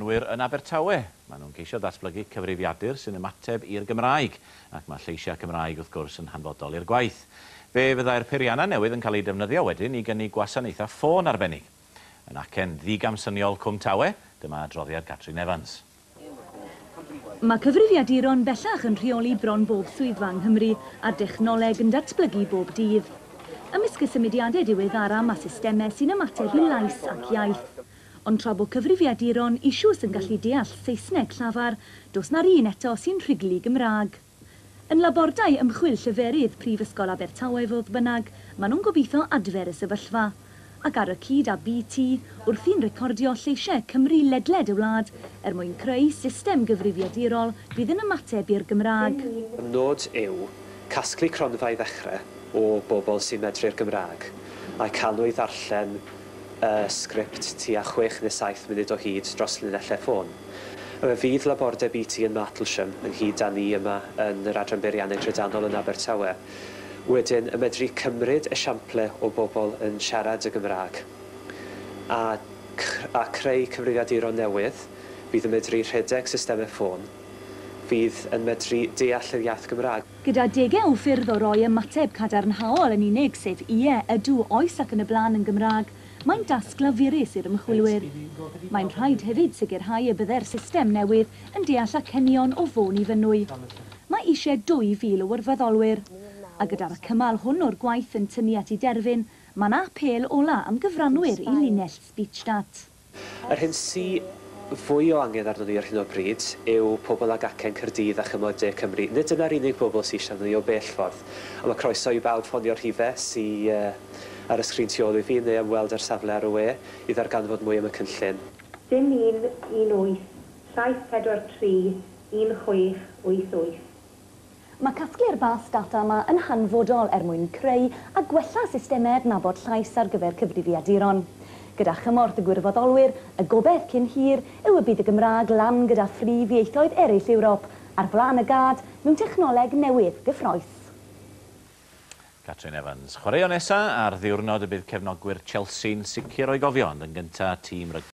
Ŵyr yn Abertawe. Maen nhw'n ceisio datblygu cyfrifiadur sy'n ymateb i'r Gymraeg, ac mae lleisiau Cymraeg wrth gwrs yn hanfodol i'r gwaith. Fe fyddai'r peiriannau newydd yn cael eu defnyddio wedyn i gynnig gwasanaethau ffôn arbennig. Yn acen ddigamsyniol Cwm Tawe, dyma adroddiad Catrin Evans. Mae cyfrifiaduron bellach yn rheoli bron bob swyddfa yng Nghymru, a'r dechnoleg yn datblygu bob dydd. Ymysg y symudiadau diweddara mae systemau sy'n ymateb i lais ac iaith. Ond tra bo cyfrifiaduron ishws yn gallu deall Saesneg llafar, dos na'r un eto sy'n rhuglu Gymraeg. Yn labordai ymchwil lleferydd Prifysgol Abertawe fodd bynnag, ma nhw'n gobeitho adfer y sefyllfa. Ac ar y cyd â BT, wrthi'n recordio lleishe Cymru ledled y wlad er mwyn creu system gyfrifiadurol fydd yn ymateb i'r Gymraeg. Y nod yw casglu cronfa i ddechre o bobl sy'n medru'r Gymraeg, a'u cael nhw i ddarllen y sgript tua 67 munud o hyd dros linellau ffôn. Fe fydd labordeb BT yn Martlesham, ynghyd â ni yma yn yr Adran Beirianneg Drydanol yn Abertawe, wedyn yn medru cymryd esiample o bobl yn siarad y Gymraeg a a chreu cyfrifiaduron newydd fydd yn medru rhedeg systemau ffôn fydd yn medru deall yr iaith Gymraeg. Gyda degau o ffyrdd o roi ymateb cadarnhaol yn unig, sef ie, ydw, oes ac yn y blaen yn Gymraeg, mae'n dasg lafurus i'r ymchwilwyr. Mae'n rhaid hefyd sicrhau y bydde'r system newydd yn deall acenion o Fôn i Fynwy. Mae eisiau 2,000 o wirfoddolwyr. A gyda'r cymal hwn o'r gwaith yn tynnu at ei derfyn, mae'n apêl ola' am gyfranwyr i linell SpeechStat. Yr hyn sy fwy o angen arnon ni ar hyn o bryd yw pobl ag acen Caerdydd a chyngor de Cymru. Nid dyna'r unig bobl sy eisiau arnon ni o bell ffordd. Ond mae croeso i bawb ffonio'r rhife sy ar y sgrin tu ôl i fi neu ymweld â'r safle ar y we i ddarganfod mwy am y cynllun. Dim un un wyth saith pedwar tri un chwech wyth wyth. Mae casglu'r fath data yma yn hanfodol er mwyn creu a gwella systemau adnabod llais ar gyfer cyfrifiaduron. Gyda chymorth y gwirfoddolwyr, y gobaith cyn hir yw y bydd y Gymraeg lan gyda phrif ieithoedd eraill Ewrop, ar flaen y gad, mewn technoleg newydd, gyffrous. Catrin Evans, chwaraeon nesa ar ddiwrnod y bydd cefnogwyr Chelsea'n sicr o'i gofio ond yn gynta tîm rygbi.